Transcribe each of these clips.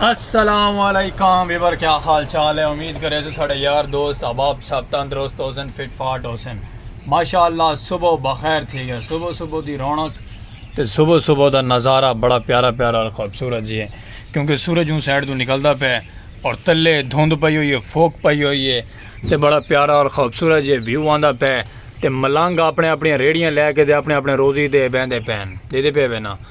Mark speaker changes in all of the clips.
Speaker 1: السلام علیکم ویور کیا حال چال ہے امید کرے سے ساڑے یار دوست احباب سب تندرست ہو سن فٹ فاٹ ہو سن ماشاءاللہ صبح بخیر تھی گیا صبح صبح دی رونق تے صبح صبح دا نظارہ بڑا پیارا پیارا اور خوبصورت جی ہے کیونکہ سورج اون سائڈ تو نکلدا پے اور تلے دھند پئی ہوئی ہے فوک پئی ہوئی ہے تے بڑا پیارا اور خوبصورت جی ویو آندا پے تے ملنگ اپنے اپنی ریڑیاں لے کے دے اپنے اپنے روزی دے بیندے پین دے دے پے بنا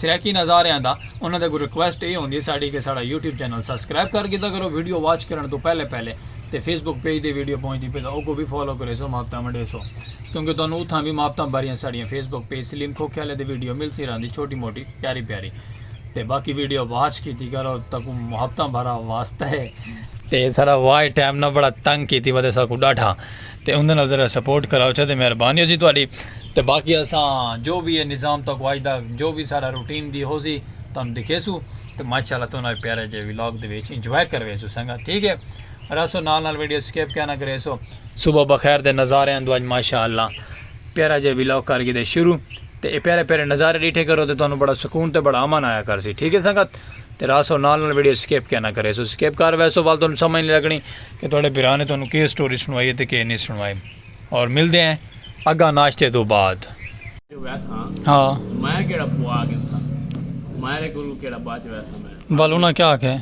Speaker 1: سرائیکی نظاریاں دا انہاں دے اگوں ریکویسٹ ایہ ہوندی ہے ساڈی کہ ساڈا یوٹیوب چینل سبسکرائب کر گھدا کرو ویڈیو واچ کرݨ توں پہلے پہلے تے فیس بک پیج تے ویڈیو پہنچدی پئے تاں اوکوں وی فالو کریسو محبتاں ونڈیسو کیونکہ تہاݙوں اتھاں وی محبتاں بھریاں ساڈیاں فیس بک پیج سلیم کھوکھے آلے تے ویڈیو ملتی رہندی چھوٹی موٹی پیاری پیاری تے باقی ویڈیو واچ کیتی کرو تہاکوں محبتاں بھرا واسطہ ہے۔ تے ذرا واچ ٹائم نہ بڑا تنگ کیتی ودے ساکوں ݙاڈھا۔ تے اوندے نال ذرا سپورٹ کراؤ چھا تے مہربانی ہوسی تہاڈی تے باقی اساں جو وی اے نظام تہاکوں اج دا جو وی ساڈا روٹین دی ہوسی تہانوں دکھیسوں تے ماشاءاللہ تہاڈا وی پیارا جیہا ولاگ دے وچ انجوائے کرویسوں سنگت ٹھیک اے رہسو نال نال ویڈیو سکپ کیا نہ کریسو صبح بخیر دے نظاریاں دو اج ماشاءاللہ پیارا جیہا ولاگ کر گھدے شروع تے اے پیارے پیارے نظارے ڈیٹھے کرو تے تہانوں بڑا سکون تے بڑا امن آیا کرسی ٹھیک اے سنگت تے رہسو نال نال ویڈیو سکپ کیا نہ کریسو سکپ کر ویسو ول تہانوں سمجھ نہیں لگنی کہ تہاڈے بھرا نے تہانوں کے سٹوری سنوائی ہے تے کے نی سنوائی اور ملدے ہیں اگاں ناشتے توں بعد۔
Speaker 2: ول انہاں کیا آکھیا ہے؟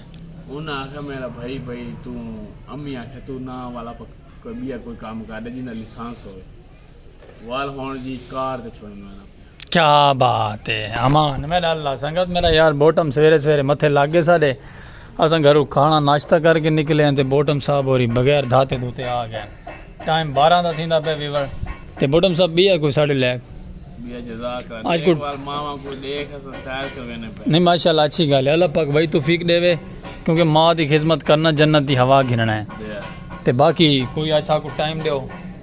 Speaker 2: وال ہون جی کار تے چھوڑ مانا کیا
Speaker 1: بات ہے امان میرا اللہ سنگت میرا یار بوٹم سویرے سویرے متھے لگ گئے سارے اساں گھرو کھانا ناشتہ کر کے نکلے ہیں تے بوٹم صاحب ہوری بغیر دھاتے دوتے آ گئے ٹائم بارہ دا تھیندا پہ ویور تے بوٹم صاحب بھی ہے کوئی ساڑھے لے آج کو
Speaker 2: نہیں ماشاءاللہ اچھی گال ہے
Speaker 1: اللہ پاک بھائی توفیق دے وے کیونکہ ماں دی خدمت کرنا جنت دی ہوا گھننا ہے تے باقی کوئی اچھا کو ٹائم دیو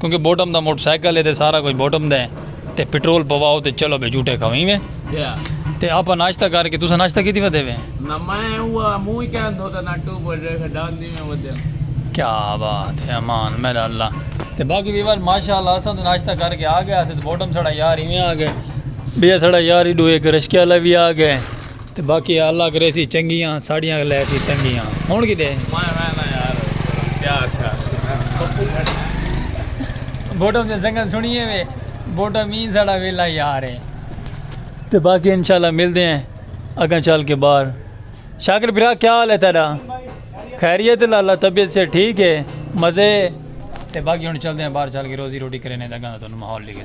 Speaker 1: کیونکہ بوٹم دا موٹر سائیکل ہے تے سارا کچھ بوٹم دا ہے تے پٹرول پواؤ تے چلو بے جھوٹے کھویں وے تے آپا ناشتہ کر کے تساں ناشتہ کیتی ودے وے نہ میں
Speaker 2: اوہ منہ ہی کہن دو تے نہ ٹو بوٹ رے کے
Speaker 1: ڈان دی میں ودے کیا بات ہے امان میرا اللہ تے باقی ویور ماشاءاللہ اساں تے ناشتہ کر کے آ گیا اسے تے بوٹم سڑا یار ہی میں آ گئے بیا سڑا یار ہی ڈو ایک رشکے والا بھی آ گئے تے باقی اللہ کریسی چنگیاں ساڈیاں لیسی تنگیاں ہن کڈے ماں میں میں یار
Speaker 2: پیار شار
Speaker 1: بوٹم دے سنگن سنیے وے بوٹم مین ساڈا ویلا یار ہے تے باقی انشاءاللہ ملدے ہیں اگاں چل کے باہر شاکر بھرا کیا حال ہے تیرا خیریت لالا طبیعت سے ٹھیک ہے مزے تے باقی ہن چلدے ہیں باہر چل کے روزی روٹی کرینے دگاں تو ماحول لگے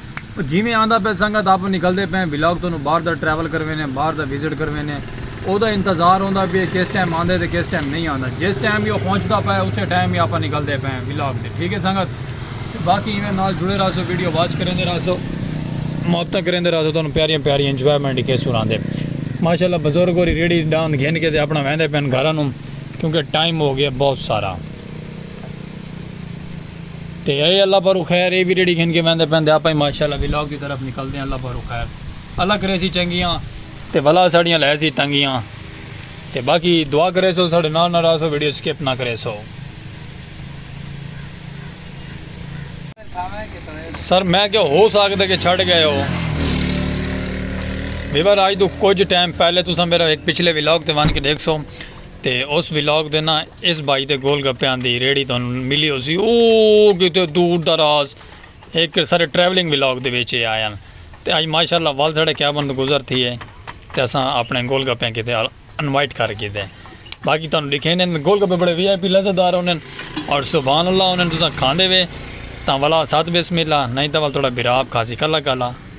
Speaker 1: او جیویں آندا پئے سنگت آپوں نکلدے پئے ولاگ تانوں باہر دا ٹریول کروینے باہر دا وزٹ کروینے اودا انتظار ہوندا پئے کس ٹائم آندے تے کس ٹائم نہیں آندا جس ٹائم وی او پہنچدا پئے اسے ٹائم ہی آپاں نکلدے پئے ولاگ تے ٹھیک ہے سنگت تے باقی ایویں نال جڑے رہسو ویڈیو واچ کریندے رہسو محبتاں کریندے رہسو تانوں پیاریاں پیاریاں انجوائمنٹ ہی کیسوں راندے ماشاءاللہ بزرگ ہوری ریڑھی ڈاند گھن کے تے اپنا ویندے پئے گھراں نوں کیونکہ ٹائم ہو گیا بہت سارا۔ تے اے اللہ پارو خیر اے بھی ریڑی گھن کے ویندے پیندے آپا ہی ماشاءاللہ ولاگ دی طرف نکل دے ہیں اللہ پارو خیر اللہ کرے سی چنگیاں تے بلا ساڑیاں لے سی تنگیاں تے باقی دعا کرے سو ساڑے نال نہ رہا سو ویڈیو سکپ نہ کرے سو سر میں کیا ہو سکتا کہ چھڑ گئے ہو ویور آج تو کچھ ٹائم پہلے تو سا میرا ایک پچھلے ولاگ تے وان کے دیکھ سو تے اس ولاگ دے نہ اس بھائی دے گول گپیاں دی ریڑھی تہانوں ملی ہوسی او کیتے دور دراز ایک سارے ٹریولنگ ولاگ دے وچ اے آیاں تے اج ماشاءاللہ ول ساڑے کیبن تو گزر تھی ہے تے اساں اپنے گول گپیاں کیتے انوائٹ کر کیتے باقی تہانوں لکھے نے گول گپے بڑے وی آئی پی لذت دار ہونے اور سبحان اللہ ہونے تساں کھاندے وے تاں ولا ساتھ بسم اللہ نہیں تاں ول تھوڑا بھرا آپ کھاسی کلا کلا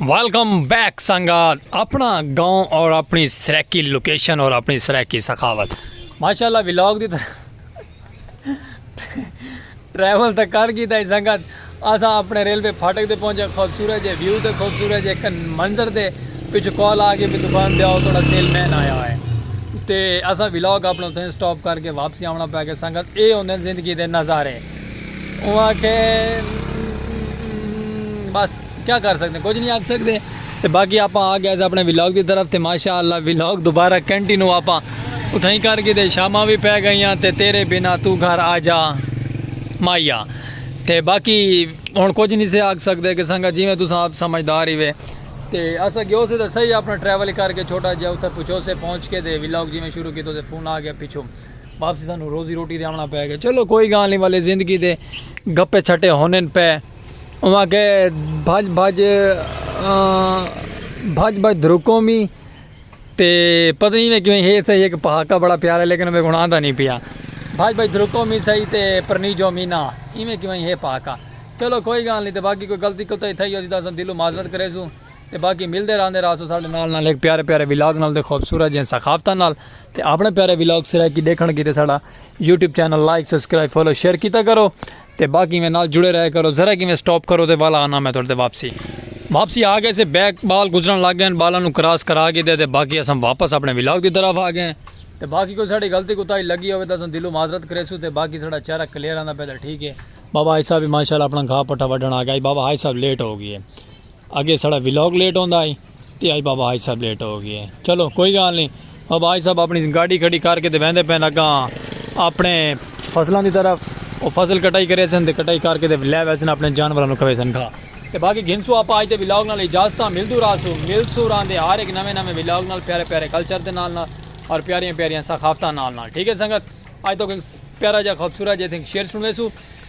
Speaker 1: ویلکم بیک سنگات اپنا گاؤں اور اپنی سریکی لوکیشن اور اپنی سریکی سخاوت ماشاءاللہ ویلاگ دی طرح ٹریول تک کر گی تھا سنگات آسا اپنے ریلوے پھاٹک دے پہنچے خوبصورت جے ویو دے خوبصورت جے کن منظر دے پچھو کال آگے بھی دکان دے آؤ توڑا سیل مین آیا ہوئے تے آسا ویلاگ اپنا تھے سٹاپ کر کے واپسی آمنا پہ گے سنگات اے ہوندے زندگی دے نظارے اوں آکھے بس کیا کر سکتے کچھ نہیں آکھ سکتے تے باقی آپاں آ گیا اپنے ولاگ دی طرف تے ماشاءاللہ ولاگ دوبارہ کنٹینو آپاں اتھائی کر کے تے شاماں بھی پہ گئیاں تے تیرے بنا تو گھر آ جا مایا تے باقی ہن کچھ نہیں سے آکھ سکتے کہ سنگا جی میں تساں آپ سمجھدار ہی وے تے اسا گیو سے تے صحیح اپنا ٹریول کر کے چھوٹا جیا اتھا پچھو سے پہنچ کے تے ولاگ جی میں شروع کیتو تے فون آ گیا پچھو واپسی سانوں روزی روٹی دے آونا پے گئے چلو کوئی گال نہیں والے زندگی دے گپے چھٹے ہونے پے اوہ کہ بھج بھج بھج بھج دھرکوں بھی تے پتہ نہیں میں کیویں ہے صحیح ایک پہاکا بڑا پیارا لیکن میں گناہ دا نہیں پیا بھج بھج دھرکوں بھی صحیح تے پرنی جو مینا ایویں کیویں ہے پہاکا چلو کوئی گال نہیں تے باقی کوئی غلطی کوتا ہی تھا ہی ہو جی دا دلوں معذرت کریسوں تے باقی ملدے راہندے راہسوں ساڈے نال نال ہک پیارے پیارے ولاگ نال تے خوبصورت جیاں ثقافتاں نال تے اپنے پیارے ولاگ سرائیکی ڈیکھن کیتے ساڈا YouTube channel like subscribe follow share کیتا کرو تے باقی میں نال جڑے رہے کرو ذرا کیویں سٹاپ کرو تے والا آنا میں تھوڑے تے واپسی واپسی آ گئے سے بیک بال گزرن لگ گئے بالاں نو کراس کرا کیتے تے باقی اساں واپس اپنے ولاگ دی طرف آ گئے تے باقی کوئی ساڈی غلطی کوتاہی لگی ہوے تے اساں دلوں معذرت کریسوں تے باقی ساڈا چہرہ کلیئر آندا پے تے ٹھیک ہے بابا حاج صاحب بھی ماشاءاللہ اپنا گھاہ پٹھا وڈھن آ گئے بابا حاج صاحب لیٹ ہو گئے اگے ساڑا ولاگ لیٹ ہوندا ہی تے اج بابا حاج صاحب لیٹ ہو گئے چلو کوئی گال نہیں بابا حاج صاحب اپنی گاڑی کھڑی کر کے تے ویندے پین اگاں اپنے فصلاں دی طرف او فصل کٹائی کرے سن تے کٹائی کر کے تے لے ویسن اپنے جانوراں نو کھوے سن کھا تے باقی گھنسو آپ آج دے ولاگ نال اجازتاں ملدو راسو ملسو ران دے ہر ایک نویں نویں ولاگ نال پیارے پیارے کلچر دے نال نال اور پیاریاں پیاریاں ثقافتاں نال نال ٹھیک ہے سنگت آج تو پیارا جا خوبصورت جے تھنگ شیر سنوے سو